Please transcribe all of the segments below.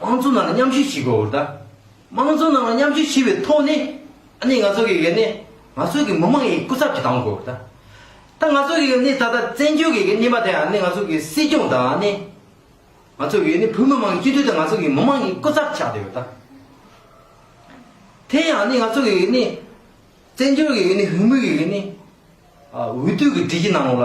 དམངས་གཙོ་ནང་ལ་མཉམ་ཞུགས་བྱེད་དགོས་བར་ད། དམངས་གཙོ་ནང་ལ་མཉམ་ཞུགས་བྱས་པའི་ཐོག་ནས། ཨ་ནི་ང་ཚོ་གི་གི་ནི། ང་ཚོ་གི་མི་དམངས་ཀྱི་སྐུ་ཚབ་ཀྱི་དང་དགོས་བར་ད། ད་ང་ཚོ་གི་གི་ནི་ད་ལྟ་བཙན་བྱོལ་གི་གི་གནས་པ་དེ་ཨ་ནི་ང་ཚོ་གི་སྲིད་སྐྱོང་དང་ཨ་ནི། ང་ཚོ་གི་གི་ནི་བོད་མི་དམངས་ཀྱི་སྤྱི་འཐུས་དང་ང་ཚོ་གི་མི་དམངས་ཀྱི་སྐུ་ཚབ་ཆགས་བསྡད་བར་ད། དེ་ཡང་ཨ་ནི་ང་ཚོ་གི་གི་ནི། བཙན་བྱོལ་གི་གི་ནི་བྷི་མུལ་གི་གི་ནི། འོས་བསྡུ་གི་སྒྲིག་གཞི་ནང་ལ།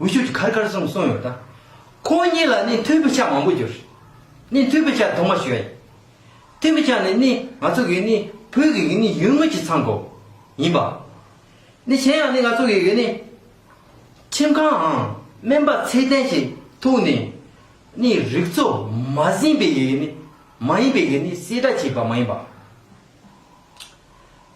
འུ་ཤུད་ཀྱི་ཁར་ཁར་གསུངས་གསུངས་ཡོད་ད། ཁོང་གཉིས་ལ་ནི་མཐུན་པའི་ཆ་མང་པོ་གྱུར། ནི་མཐུན་པའི་ཆ་དུ་མ་ཞིག་ཡོད། མཐུན་པའི་ཆ་ནི་ནི་ང་ཚོ་གི་ནི་བོད་ཀྱི་ནི་ཡུལ་དངོས་ཀྱི་མཚང་གོ། ཡིན་པ། ནི་གཞན་ཡང་ནི་ང་ཚོ་གི་ནི། ཁྱིམ་ཁང་འང་སྨན་པ་ཚད་ལྡན་ཞིག་ཐུག་ནས། ནི་རིག་གཙོ་མ་ཟིན་པའི་ནི་མ་ཡིན་པའི་ནི་གསལ་བསྒྲགས་བྱས་པ་མ་ཡིན་པ།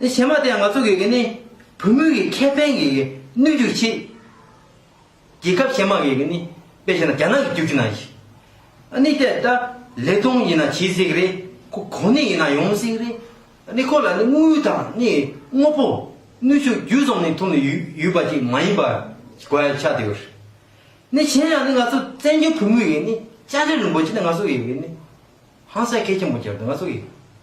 དེ་བྱེ་མ་དེ་ང་ཚོ་གི་གི་ནི་བུ་མོའི་གི་ཁེ་ཕན་གི་གི་གནོད་རྒྱུ་གི་ཆེད། རྒྱལ་ཁབ་བྱེ་མ་གི་གི་ནི་པེ་ཞེ་ན་རྒྱ་ནག་གི་རྒྱུག་ཆུ་ན་ཞིག། ཨ་ནི་དེ་ད་ལེ་ཐོང་ཡིན་ན་ཇི་སྲིག་རེད་ཁོ་གོ་ནི་ཡིན་ན་ཡོང་མི་སྲིག་རེད། ཨ་ནི་ཁོ་ལ་ནི་དངུལ་དང་ནི་དངོ་པོ་ནུས་ཤུགས་རྒྱུ་ཙོམ་ནི་ཐུག་ནི་ཡོད་ཡོད་པ་ཅིག་མ་ཡིན་པར་གོ་ཡ་ཆགས་དེ་ཡོད། ནི་གཞན་ཡང་ནི་ང་ཚོ་བཙན་བྱོལ་བུ་མོའི་གི་ནི་བཅར་འདྲི་རིན་པོ་ཆེ་ནི་ང་ཚོ་གི་གི་ནི་ཧང་སངས་ཁེ་ཆེན་པོ་གྱར་དུ་ང་ཚོ་གི།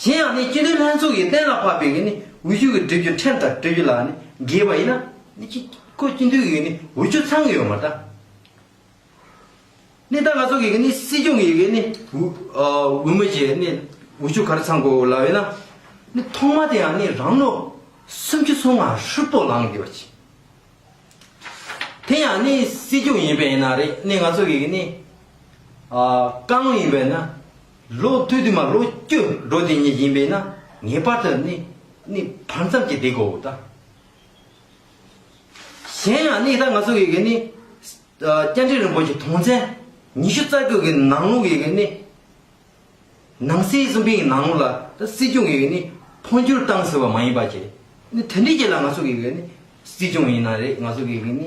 གཞན་ཡང་ནི་སྤྱི་དོན་ལྷན་ཚོགས་ཀྱིས་གཏན་ལ་ཕབ་པའི་ནི་འོས་ཆོས་ཀྱི་སྒྲིག་རྒྱུ་ཕྲན་དང་སྤྲོད་རྒྱུ་ལ་ནི་འགལ་བ་ཡིན་ན། ནི་སྤྱི་ཁོ་སྤྱི་འཐུས་ཀྱི་ནི་འོས་ཆོས་ཚང་གི་ཡོད་མ་ད། ནི་ད་ང་ཚོ་གི་ནི་སྲིད་སྐྱོང་གི་ནི་འོས་མི་ཀྱི་ནི་འོས་ཆོས་ག་རེ་ཚང་དགོས་ལ་ཡོད་ན། ནི་ཐོག་མ་དེ་ཡང་ནི་རང་ནོ། སུམ་ཅུ་སོ་ལྔ་ཧྲིལ་པོ་ལངས་དགོས་པ་བྱས། དེ་ཡང་ནི་སྲིད་སྐྱོང་ཡིན་པས་ན་རེད་ནི་ང་ཚོ་གི་ནི། ཀང་ཡིན་པས་ན། ལོ་སྟོད་དུ་མ་ལོ་སྐྱོ་འགྲོ་དེ་ཉིད་ཡིན་པས་ན་ངེས་པར་དུ་ནི་ནི་བར་མཚམས་ཀྱི་དེ་གོ་དང། གཞན་ཡང་ནི་ད་ང་ཚོ་ཡི་གེ་ནི། སྤྱན་འདྲེན་རིན་པོ་ཆེ་དུང་ཅན་ཉི་ཤུ་རྩ་དགུ་གི་ནང་ལུགས་ཡི་གེ་ནི། ནང་སྲིད་གསུམ་འཕེལ་གྱི་ནང་ལུགས་ལ་ད་སྲིད་སྐྱོང་གི་ཡི་གེ་ནི་འཕོ་འགྱུར་བཏང་ཟེར་བ་མ་ཡིན་པ་ཅི། ནི་དེ་འདྲའི་རྗེས་ལ་ང་ཚོ་ཡི་གེ་ནི་སྲིད་སྐྱོང་ཡིན་ན་རེད་ང་ཚོ་ཡི་གེ་ནི།